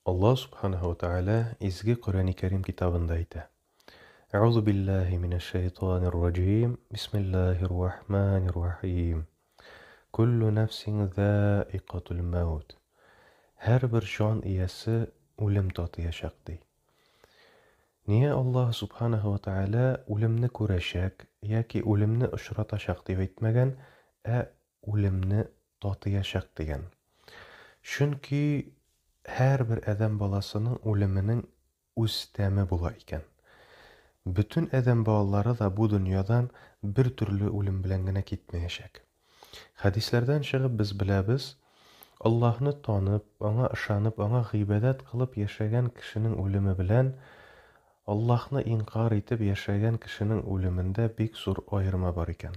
Аллаһ Субханаһу ва Тәгалә изге Коръәни Кәрим китабында әйтә. Әгъузу биллаһи минәш шәйтанир раҗим. Бисмиллаһир рахманир рахим. Куллу нафсин заикатул маут. Һәрбер җан иясе үлем татыячак ди. Нигә Аллаһ Субханаһу ва Тәгалә үлемне күрәчәк яки үлемне очратачак дип әйтмәгән, ә үлемне татыячак дигән. Чөнки һәрбер адәм баласының үлеменең үз тәме була икән. Бөтен адәм балалары да бу дөньядан бер төрле үлем белән генә китмәячәк. Хәдисләрдән чыгып без беләбез, Аллаһны танып, аңа ышанып, аңа гыйбадәт кылып яшәгән кешенең үлеме белән Аллаһны инкарь итеп яшәгән кешенең үлемендә бик зур аерма бар икән.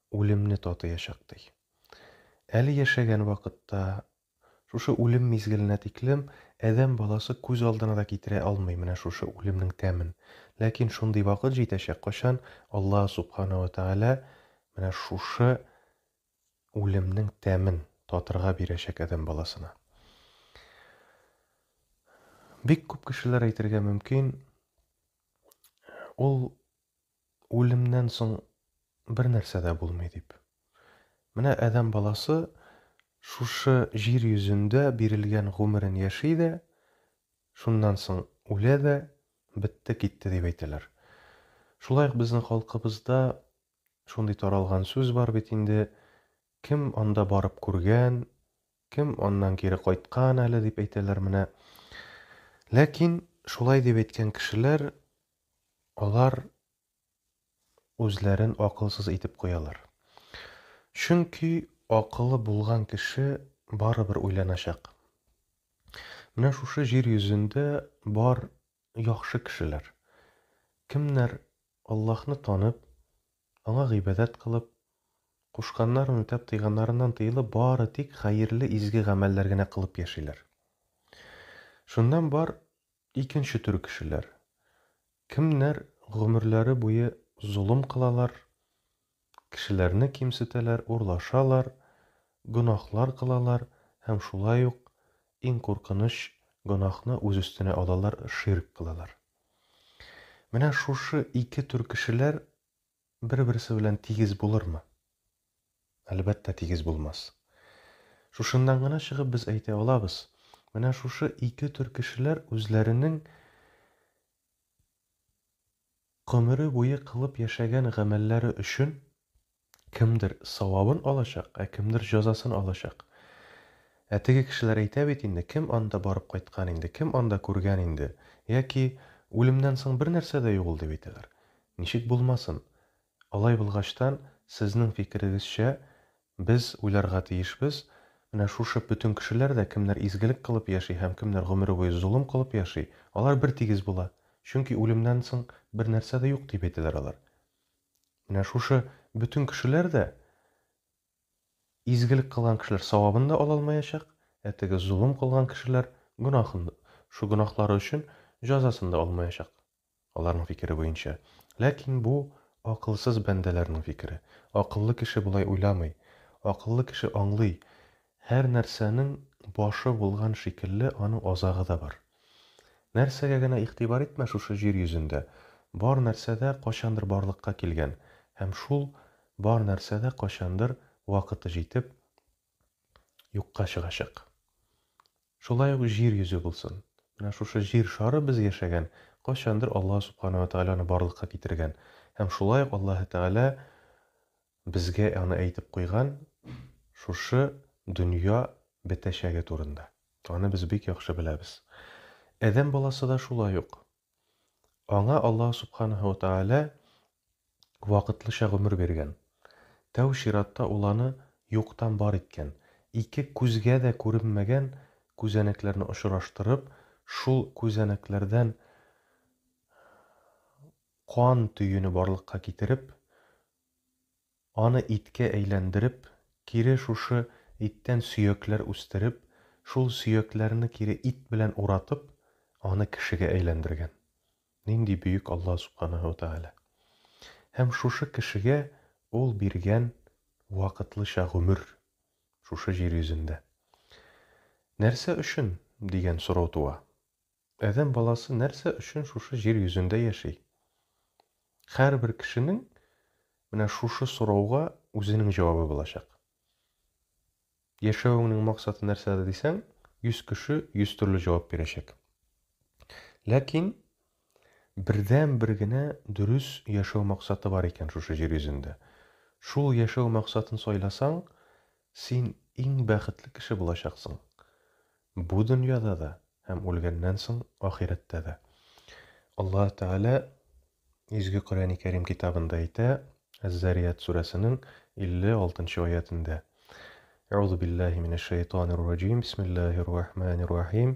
үлемне татыячак, ди. Әле яшәгән вакытта, шушы үлем мизгеленә тиклем адәм баласы күз алдына да китерә алмый менә шушы үлемнең тәмен. Ләкин шундый вакыт җитәчәк, кайчан Аллаһ Субхана ва Тәгалә менә шушы үлемнең тәмен татырга бирәчәк адәм баласына. Бик күп кешеләр әйтергә мөмкин, ул Үлемнән соң бернәрсә дә булмый дип. Менә адәм баласы шушы җир йөзендә бирелгән гомерен яши дә, шуннан соң үлә дә, бетте, китте дип әйтәләр. Шулай ук безнең халкыбызда шундый таралган сүз бар бит инде, кем анда барып күргән, Кем аннан кире кайткан әле, дип әйтәләр менә. Ләкин шулай дип әйткән кешеләр, алар үзләрен акылсыз итеп куялар. Чөнки акылы булган кеше барыбер уйланачак. Менә шушы җир йөзендә бар яхшы кешеләр. Кемнәр Аллаһны танып, Аңа гыйбадәт кылып, кушканнарын үтәп, тыйганнарыннан тыелып, бары тик хәерле, изге гамәлләр генә кылып яшиләр. Шуннан бар икенче төр кешеләр. Кемнәр гомерләре буе золым кылалар, кешеләрне кимсетәләр, урлашалар, гөнаһлар кылалар һәм шулай ук иң куркыныч гөнаһны үз өстенә алалар, ширк кылалар. Менә шушы ике төр кешеләр бер-берсе белән тигез булырмы? Әлбәттә, тигез булмас. Шушыннан гына чыгып без әйтә алабыз, менә шушы ике төр кешеләр үзләренең гомере буе кылып яшәгән гамәлләре өчен Кемдер савабын алачак, ә кемдер җәзасын алачак. Ә теге кешеләр әйтә бит инде, кем анда барып кайткан инде, кем анда күргән инде, яки үлемнән соң бернәрсә дә юк ул дип әйтәләр. Ничек булмасын? Алай булгачтан, сезнең фикерегезчә, без уйларга тиешбез, менә шушы бөтен кешеләр дә, кемнәр изгелек кылып яши һәм кемнәр гомере буе золым кылып яши, алар бертигез була, чөнки үлемнән соң бернәрсә дә юк дип әйтәләр алар. Менә шушы бөтен кешеләр дә изгелек кылган кешеләр савабын да ала алмаячак, ә теге золым кылган кешеләр гөнаһын, шул гөнаһлары өчен җәзасын да алмаячак, аларның фикере буенча. Ләкин бу, акылсыз бәндәләрнең фикере. Акыллы кеше болай уйламый. Акыллы кеше аңлый, Һәр нәрсәнең башы булган шикелле, аның азагы да бар. Нәрсәгә генә игътибар итмә шушы җир йөзендә, бар нәрсә дә кайчандыр барлыкка килгән һәм шул бар нәрсә дә кайчандыр вакыты җитеп юкка чыгачак. Шулай ук җир йөзе булсын. Менә шушы җир шары без яшәгән, кайчандыр Аллаһ Субхана ва Тәгаләне барлыкка китергән һәм шулай ук Аллаһы Тәгалә Безгә аны әйтеп куйган шушы дөнья бетәчәге турында. Аны без бик яхшы беләбез. Адәм баласы да шулай ук. Аңа Аллаһ Субханаһу ва Тәгалә вакытлыча гомер биргән. Тәү чиратта ул аны юктан бар иткән. Ике күзгә дә күренмәгән күзәнәкләрне очраштырып, шул күзәнәкләрдән кан төене барлыкка китереп, Аны иткә әйләндереп, кире шушы иттән сөякләр үстереп, шул сөякләрне кире ит белән уратып, аны кешегә әйләндергән. Нинди бөек Аллаһ Сүбхәнәһү вә Тәгалә! Һәм шушы кешегә Ул биргән вакытлыча гомер шушы җир йөзендә. Нәрсә өчен? дигән сорау туа. Адәм баласы нәрсә өчен шушы җир йөзендә яши? Һәрбер кешенең менә шушы сорауга үзенең җавабы булачак. Яшәвеңнең максаты нәрсәдә дисәң, 100 кеше 100 төрле җавап бирәчәк. Ләкин бердәнбер генә дөрес яшәү максаты бар икән шушы җир йөзендә. Шул яшәү максатын сайласаң, Син иң бәхетле кеше булачаксың. Бу дөньяда да һәм үлгәннән соң ахирәттә дә. Аллаһ Тәгалә Изге Коръәни Кәрим китабында әйтә, Әз-Зарияәт сүрәсенең 56 нчы аятендә. Әгъузу биллаһи минәш шәйтанир раҗим, бисмиллаһир рахманир рахим.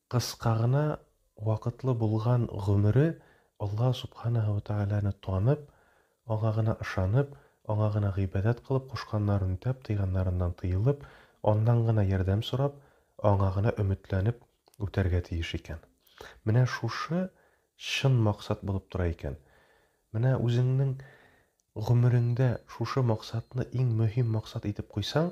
Кыска гына вакытлы булган гомере Аллаһ Сүбхәнәһү вә Тәгаләне танып, Аңа гына ышанып, Аңа гына гыйбадәт кылып, кушканнарын үтәп, тыйганнарыннан тыелып, Аннан гына ярдәм сорап, Аңа гына өметләнеп үтәргә тиеш икән. Менә шушы чын максат булып тора икән. Менә үзеңнең гомереңдә шушы максатны иң мөһим максат итеп куйсаң,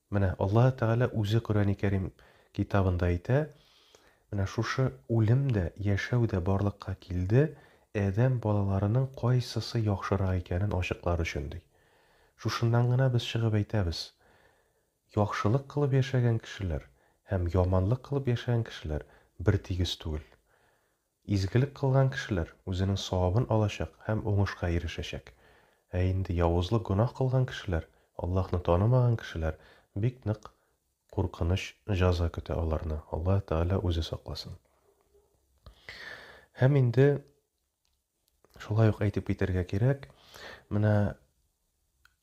Менә Аллаһы Тәгалә Үзе Коръәни Кәрим китабында әйтә, Менә шушы үлем дә, яшәү дә барлыкка килде, адәм балаларының кайсысы яхшырак икәнен ачыклар өчен, ди. Шушыннан гына без чыгып әйтәбез, яхшылык кылып яшәгән кешеләр һәм яманлык кылып яшәгән кешеләр бертигез түгел. Изгелек кылган кешеләр үзенең савабын алачак һәм уңышка ирешәчәк. Ә инде явызлык гөнаһ кылган кешеләр, Аллаһны танымаган кешеләр, бик нык куркыныч җәза көтә аларны, Аллаһ Тәгалә үзе сакласын. Һәм инде шулай ук әйтеп китәргә кирәк, менә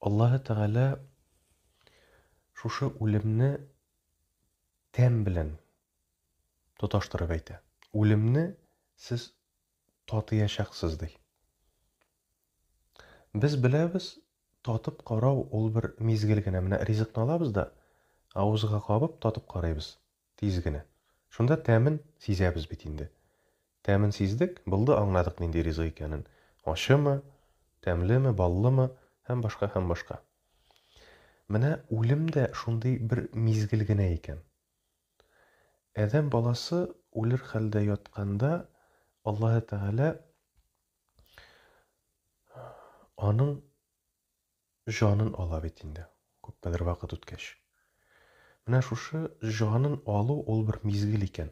Аллаһ Тәгалә шушы үлемне тәм белән тоташтырып әйтә. Үлемне сез татыячаксыз, ди. Без беләбез, татып карау ул бер мизгел генә. Менә ризыкны алабыз да, авызга кабып, татып карыйбыз, тиз генә. Шунда тәмен сизәбез бит инде. Тәмен сиздек, булды, аңладык нинди ризык икәнен, ачымы, тәмлеме, баллымы һәм башка, һәм башка. Менә үлем дә шундый бер мизгел генә икән. Адәм баласы үлер хәлдә ятканда Аллаһы Тәгалә аның җанын ала бит инде, күпме бер вакыт үткәч. Менә шушы җанын алу ул бер мизгел икән.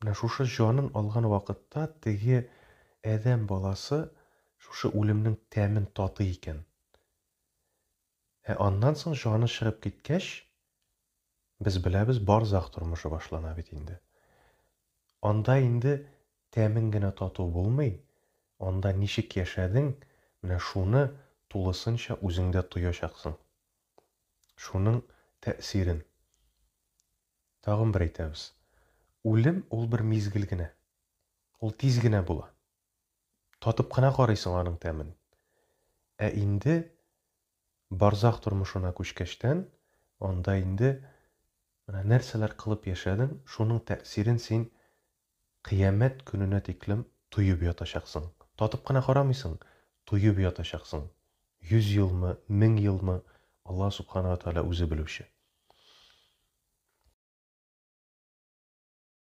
Менә шушы җанын алган вакытта теге адәм баласы шушы үлемнең тәмен татый икән. Ә аннан соң җаны чыгып киткәч, без беләбез, барзах тормышы башлана бит инде. Анда инде тәмен генә тату булмый, анда ничек яшәдең, менә шуны тулысынча үзеңдә тоячаксың. Шуның тәэсирен. Тагын бер әйтәбез, үлем ул бер мизгел генә. Ул тиз генә була. татып кына карыйсың аның тәмен. Ә инде барзах тормышына күчкәчтән, анда инде менә нәрсәләр кылып яшәдең, шуның тәэсирен син кыямәт көненә тиклем тоеп ятачаксың. Татып кына карамыйсың, тоеп ятачаксың. Йөз елмы, мең елмы, Аллаһ Субхана ва Тәгалә үзе белүче.